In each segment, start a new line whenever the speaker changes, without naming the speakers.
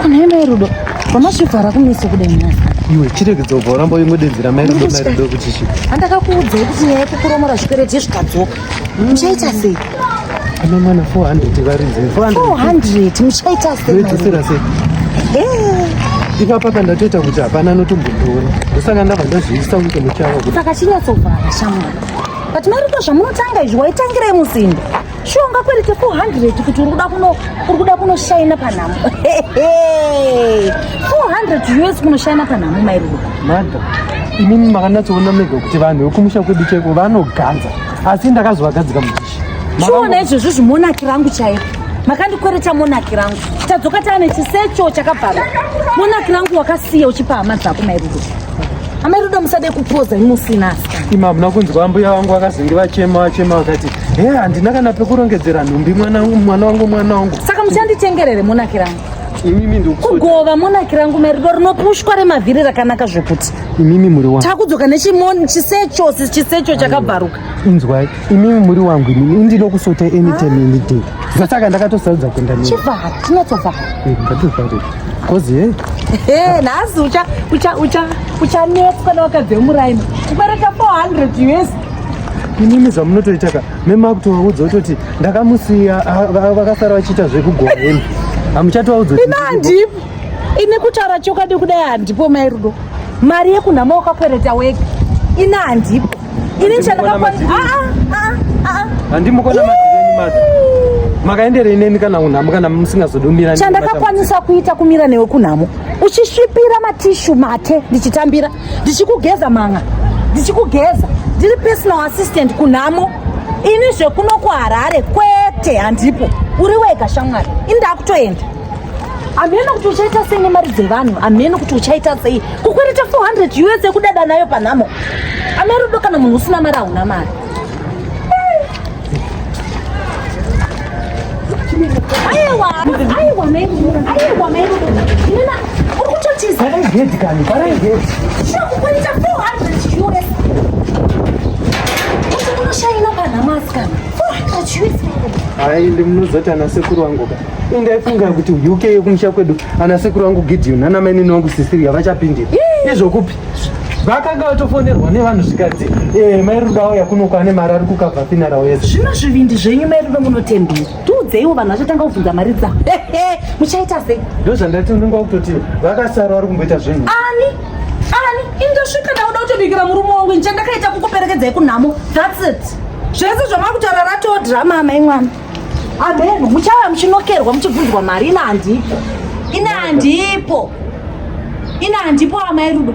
Kunaenda irudo. Mama chivhara kumeso kudai nhasi. Iwe chiregedza
kubva uramba uingodedzera mai rudo mai rudo kuti chi. Andakakuudzai kuti
nyaya yekukuromora zvikwereti yezvikadzoka.
Muchaita sei? Ana mwana 400 varinze. 400
muchaita sei? Muchaita sei?
Eh. Ipapa pandatoita kuti hapana anotombondiona. Ndosaka ndabva ndazviisa kuti muchava kuti. Saka chinyatsovhara
shamwari. But mai rudo zvamunotanga izvi waitangirai musimba. sho ungakwerete 400 kuti uri kuda kuno uri kuda kunoshaina panhamo 400 us kunoshaina panhamo mairuva madha
imimi makanatsoona mega kuti vanhu vekumusha kwedu chaiko vanoganza asi ndakazovagadzika mudishi chiona izvozvo
zvimonaki rangu chaiko makandikwereta monaki rangu tadzoka taane chisecho chakabvarwa monaki rangu wakasiya uchipa hama dzako mairudo amairudo musade kupoza imusina asi ima hamuna kunzwa mbuya
vangu vakazenge vachema vachema vakati Hey, handina kana pekurongedzera nhumbi mwana wangu mwana wangu mwana wangu. Saka muchanditengerere
monaki rangu. Imimi ndikuti
kugova monaki
rangu merido rinopushwa remavhiri rakanaka zvekuti. Imimi muri wangu.
Takudzoka nechimoni
chisecho chisecho chakabvaruka. Inzwai,
imimi muri wangu imimi ndinokusota anytime ah. any day. Saka ndakatosarudza kuenda nemi. Chibva, tinotobva.
Eh, Ngatobva.
Kozi hey. Hey, nhasi
ucha ucha ucha uchanetswa newakadze muraini. Kubereka 400 US. inini
zvamunotoita ka memakutovaudza kutoti ndakamusiya vakasara vachiita zvekugona imi hamuchatovaudza imi handipo
ini kutaura chokwadi kudai handipo mai rudo mari yekunhama wakakwereta wega ini handipo ini chandakaandimukona
makaenderei neni kana kunhamo kana musingazodomira chandakakwanisa kuita
kumira newe kunhamo uchisvipira matishu mate ndichitambira ndichikugeza manga ndichikugeza ndiri personal assistant kunhamo ini zvekuno kuharare kwete handipo uri wega shamwari ini ndakutoenda hameno kuti uchaita sei nemari dzevanhu hameno kuti uchaita sei kukwereta 400 us yekudada nayo panhamo amerudo kana munhu usina mari hauna mari aende
munozoti ana sekuru wangu ka indaifunga kuti uk yekumusha kwedu ana sekuru wangu gideon ana mainini wangu sisiria vachapindira izvokupi vakanga vatofonerwa nevanhu zvikadzi eh, mai rudo auya kuno kwane mari ari kukabva finarao yese zvino zvivindi zvenyu
mai rudo munotembei tiudzeiwo vanhu vachatanga kubvunza mari dzavo muchaita sei ndo zvandati unenge wakutoti
vakasara vari kumboita zvinhu ani
ani indosvika ndauda kutobikira murume wangu ndicha ndakaita kukuperekedzai kunhamo thats it zvese zvamava kutaura ratoo drama amai mwana Amen. Muchava muchinokerwa muchibvunzwa mari ina handipo. Ina handipo. Ina handipo amai Rudo.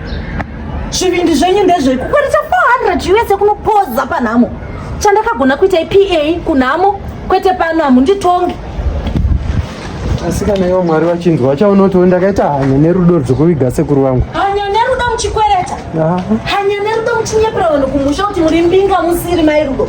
Zvivindi zvenyu ndezvei kukwanisa 400 US kunopoza panhamo. Chandakagona kuita iPA kunhamo kwete pano hamunditongi.
Asi kana iwo Mwari vachinzwa vachaona kuti ndakaita hanya nerudo rwekuviga sekuru vangu. Hanya nerudo
muchikwereta. Hanya nerudo muchinyepera vanhu kumusha kuti muri mbinga musiri mai Rudo.